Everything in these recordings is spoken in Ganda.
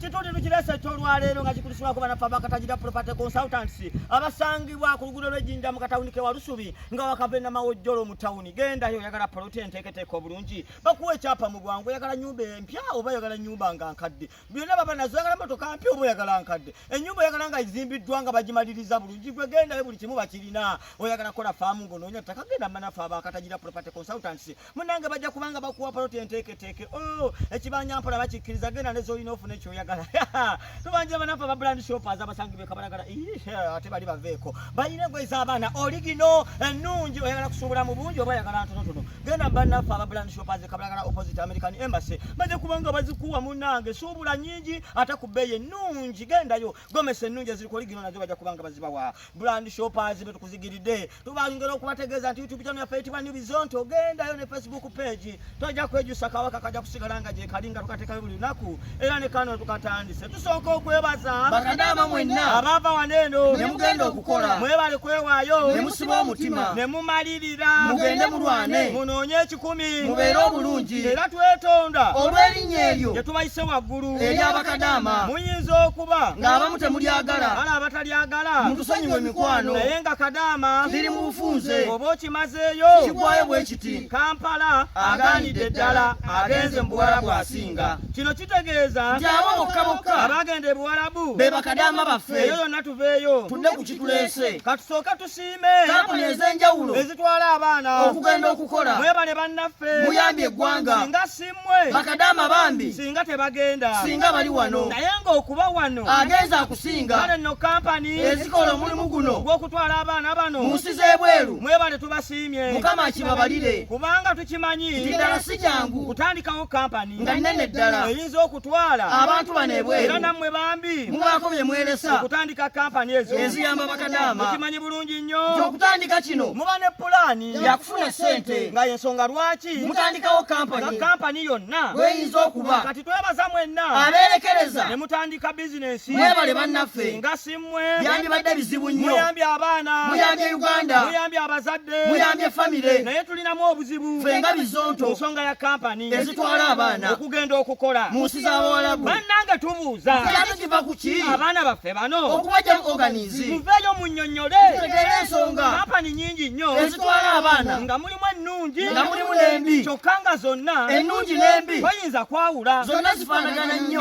kitundu eno kireese ekyolwaleero nga kikulisibwako banaffe abakatagira property consultants abasangibwa ku luguudo lw'ejjinja mu katawuni ke walusubi nga wakava enamawojjolo mu tawuni gendayo oyagala poloti enteeketeeka obulungi bakuwa ekyapa mu bwangu oyagala nyumba empya oba oyagala nyumba nga nkadde byonna baba nazo oyagala motoka mpya oba oyagala nkadde enyumba oyagala nga izimbiddwa nga bagimaliriza bulungi gwe gendayo buli kimu bakirina oyagala kola faamu ng'onoonya ttaka genda manaffe abakatagira property consultants munange bajja kubanga bakuwa poloti enteeketeeke o oh, ekibanja mpola bakikkiriza genda ne zolina ofuna ekyoyagala tubanjira banaffe aba brand shoppers abasangi bekabalagala ate bali baveeko balina engoye z'abaana oligino ennungi oyagala kusuubula mu bungi oba oyagala ntonotono genda banaffe aba brand shoppers ekabalagala opposite american embassy bajja kubanga bazikuwa munange suubula nyingi ate ku bbeeyi ennungi gendayo gomesa ennungi eziri ku oligino nazo bajja kubanga bazibawa brand shoppers betukuzigiride tubangera okubategeeza nti youtube channel yaffe eyitibwa new bizonto gendayo ne facebook page tojja kwejusa kawaka kajja kusigala nga gyekali nga tukatekayo buli lunaku era ne kano tukatandise tusooka okwebaza bakadama mwenna abaava waneeno nemugenda okukola mwebale kwewaayo nemusiba omutima nemumalirira mugende mulwane munoonye kumi mubeere obulungi era twetonda olw'erinnya eryo gye tubayise waggulu ery'abakadaama muyinza okuba ng'abamu temulyagala bala abatalyagala mutusonyiwe mikwano naye nga kadaama ziri mu bufunze oba okimazeeyo kigwayo bwe kiti kampala agaanidde ddala agenze mu buwala bw'asinga kino kitegeeza nti abo bokka bokka abaagenda ebuwalabu be bakadaama baffe eyo yonna tuveeyo tudde ku kituleese katusooka kampuni ez'enjawulo ezitwala abaana okugenda okukola mwebale bannaffe muyambye eggwanga singa simmwe bakadaama bambi singa tebagenda singa bali wano naye ng'okuba wano agenza akusinga kale nno kampani ezikola omulimu guno gw'okutwala abaana bano mu nsi z'ebweru mwebale tubasiimye mukama akibabalire kubanga tukimanyi nti ddala si jangu kutandikawo kampani nga nnene ddala eyinza oku twala abantu bano ebweru era nammwe bambi mubaako bye mweresa okutandika kampani ezo eziyamba bakadaama mukimanyi bulungi nnyo nti okutandika kino muba ne pulaani yakufuna ssente nga yensonga lwaki mutandikawo kampani nga kampani yonna bweyinza okuba kati twebaza mwenna abeerekereza ne mutandika bizinensi mwebale bannaffe nga simu byandibadde bizibu nnyo muyambye abaana muyambye uganda muyambye abazadde muyambye famire naye tulinamu obuzibu fenga bizonto ensonga ya kampani ezitwala abaana okugenda okukola mu nsi z'abawalabu bannange tubuuza kyali kiva ku ki abaana baffe bano okubajja mu oganizi muveeyo munnyonnyole tutegeere ensonga kampani nyingi nnyo ezitwala abaana nga mulimu ennungi nga mulimu n'embi kyokka nga zonna ennungi n'embi toyinza kwawula zonna zifaanagana nnyo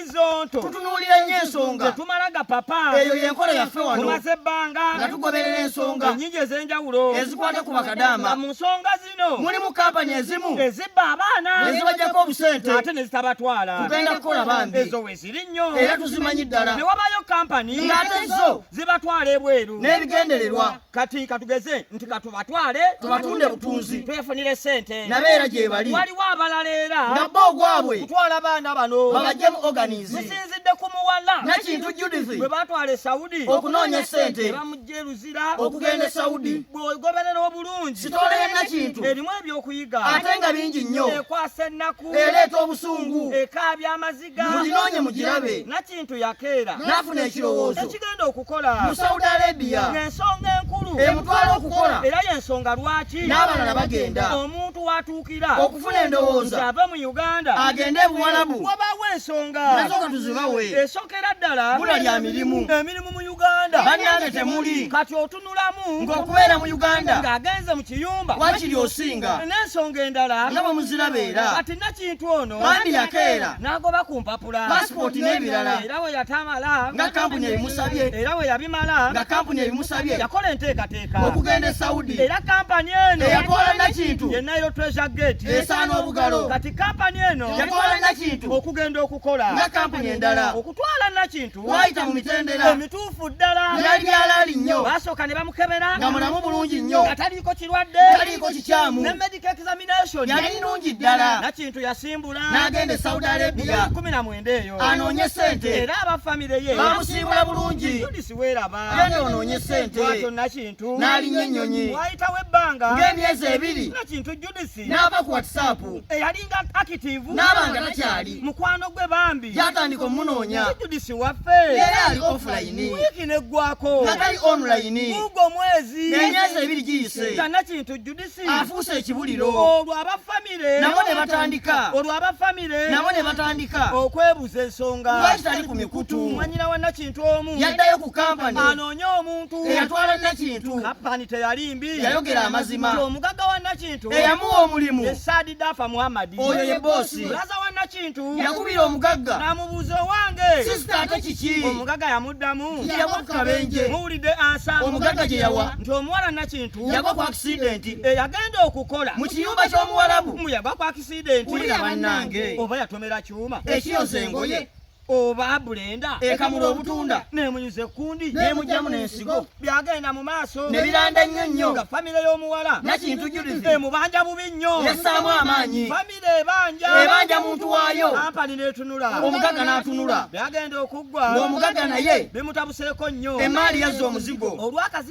zonto tutunuulira nnyo ensonga tetumala gapapa eyo yenkola yaffe wano tumaze ebbanga nga tugoberera ensonga ennyingi ez'enjawulo ezikwata ku bakadaama mu nsonga zino mulimu kampani ezimu ezibba abaana ezibajjako obusente ate ne zitabatwala tugenda kukola bambi ezo we ziri nnyo era tuzimanyi ddala ne wabayo kampani ng'ate zo zibatwala ebweru n'ebigendererwa kati katugeze nti katubatwale tubatunde butunzi twefunire sente nabeera gyebali waliwo abalala era nabba ogwabwe kutwala baana bano babajjemu organize zisinzidde ku muwala nakintu judith bwe batwala e saudi okunoonya sente bamujja eruzira okugenda e saudi bwegoberera obulungi sitoola ya nakintu erimu ebyokuyiga ate nga bingi nnyo ekwasa ennaku ereeta obusungu ekaabya amazi muginoonye mugirabe nakintu yakeera n'afuna ekirowoozo ekigenda okukola mu saudi arabia ng'ensonga enkulu emutwala okukola era y'ensonga lwaki n'abalala bagenda omuntu watuukira okufuna endowooza ave mu uganda agende ebuwalabu wabaawo ensonga nasooka tuzibawe esokera ddala bula lya mirimu emirimu mu uganda bannange temuli kati nulamu ng'okubeera mu uganda ng'agenze mu kiyumba wakiri osinga n'ensonga endala nga bwe muzirabeera kati nakintu ono bandi yakeera n'agoba ku mpapula pasipooti n'ebirala era we yatamala nga kampuni ebimusabye era we yabimala nga kampuni ebimusabye yakola enteekateeka okugenda e saudi era kampani eno yakola nakintu ye nairo treasure gate esaana obugalo kati kampani eno yakola nakintu okugenda okukola nga kampuni endala okutwala nakintu twayita mu mitendera emituufu ddala byali byalaali nnyo baasooka ne bamukebera nga mulamu bulungi nnyo nga taliiko kirwadde taliiko kikyamu ne medical examination yali nnungi ddala nakintu yasimbula n'agenda e saudi arabia kumi na mwenda eyo anoonye ssente era aba famire ye bamusimbula bulungi judisi weeraba yena onoonye ssente bwatyo nakintu n'alinnya ennyonyi wayitawo ebbanga ng'emyezi ebiri nakintu judisi Connect n'ava ku WhatsApp eyalinga active n'aba nga takyali mukwano gwe bambi yatandika omunoonya Judisi waffe era ali offline wiiki n'eggwako nga tali online guugwo mwezi n'emyezi ebiri giyise tana kintu Judisi afuuse ekibuliro olwo aba famire nabo ne batandika olwo aba famire nabo ne batandika okwebuza ensonga lwaki tali ku mikutu mwanyina wa Nakintu omu yaddayo ku kampani anoonya omuntu eyatwala Nakintu kampani teyali mbi yayogera amazima omugagga wa Nakintu Nakintu eyamuwa omulimu ye Saadi Dafa Muhammad, oyo ye bosi. Bulaza wa Nakintu yakubira omugagga n'amubuuza owange sisita ate kiki? Omugagga yamuddamu nti yagwa ku kabenje. Muwulidde ansa omugagga gye yawa nti omuwala Nakintu yagwa ku akisidenti eyagenda okukola mu kiyumba ky'omuwalabu. Mbu yagwa ku akisidenti. Wulira bannange. Oba yatomera kyuma ekiyoza engoye. oba bulenda ekamula obutunda nemunyuza ekkundi nemugyamu nensigo byagenda mu maaso nebiranda nnyo nnyo nga famire y'omuwala nakintu julizi emubanja bubi nnyo yasaamu amaanyi famire ebanja ebanja muntu waayo ampani netunula omugaga n'atunula byagenda okuggwa ng'omugaga naye bimutabuseeko nnyo emaali yazza omuzigo olwakazi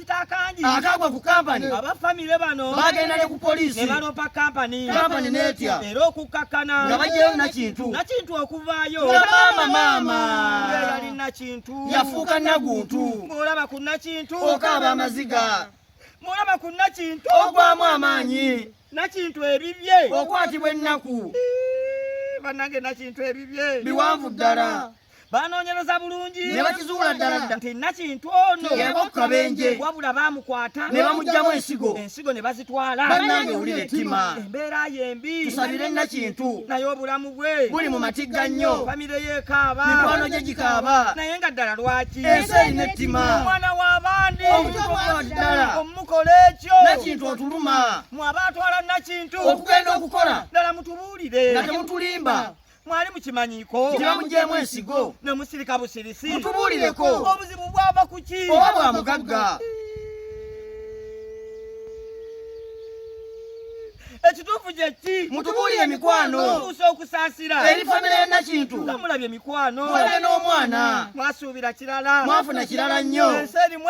akagwa ku kampani aba famire bano bagenda ne ku poliisi ne baloopa kampani kampani n'etya era okukkakkana nga bajjayo nakintu nakintu okuvaayo nga maama maama yali nakintu yafuuka naguntu ng'olaba ku nakintu okaaba amaziga ng'olaba ku nakintu ogwamu amaanyi nakintu ebibye okwatibwa ennaku banange nakintu ebibye biwanvu ddala banoonyereza bulungi ne bakizuula ddala nti nakintu ono yebokukabenje wabula baamukwata ne bamugyamu ensigo ensigo ne bazitwala banange owulira ettima embeera yembi tusabire nakintu naye obulamu bwe buli mu matigga nnyo famire yekaaba mikwano gye gikaaba naye nga ddala lwaki ensi erina ettima omwana w'abandi omutuufu ddala omumukola kyo nakintu otuluma mwe abaatwala nakintu okugenda okukola ddala mutubuulire nga temutulimba mwali mukimanyiko tibamugyeemu ensigo ne musirika busirisi mutubuulireko obuzibu bwava ku ki oba bwa mugagga ekituufu kyeki mutubuulire emikwano tuusa okusaasira eri famire ya nakintu nga mulabye emikwano mulabe n'omwana mwasuubira kirala mwafuna kirala nnyo ensi erimu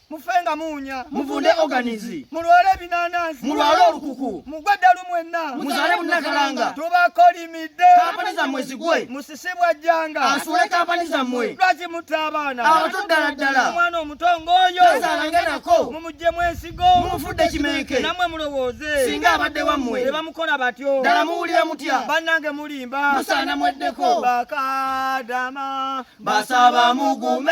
mufenga munya muvunde organizi mulwale binanasi mulwale olukuku mugwe ddalu mwenna muzale munakalanga tubakolimidde kampani zammwe zigwe musisibwa jjanga asuule kampani zammwe lwaki mutta abaana abato ddala ddala omwana omuto ng'oyo azalange nako mumugyemu ensigo mumufudde kimenke namwe mulowooze singa abadde wammwe ne bamukola batyo ddala muwulira mutya bannange mulimba musaana mweddeko bakadama basaba mugume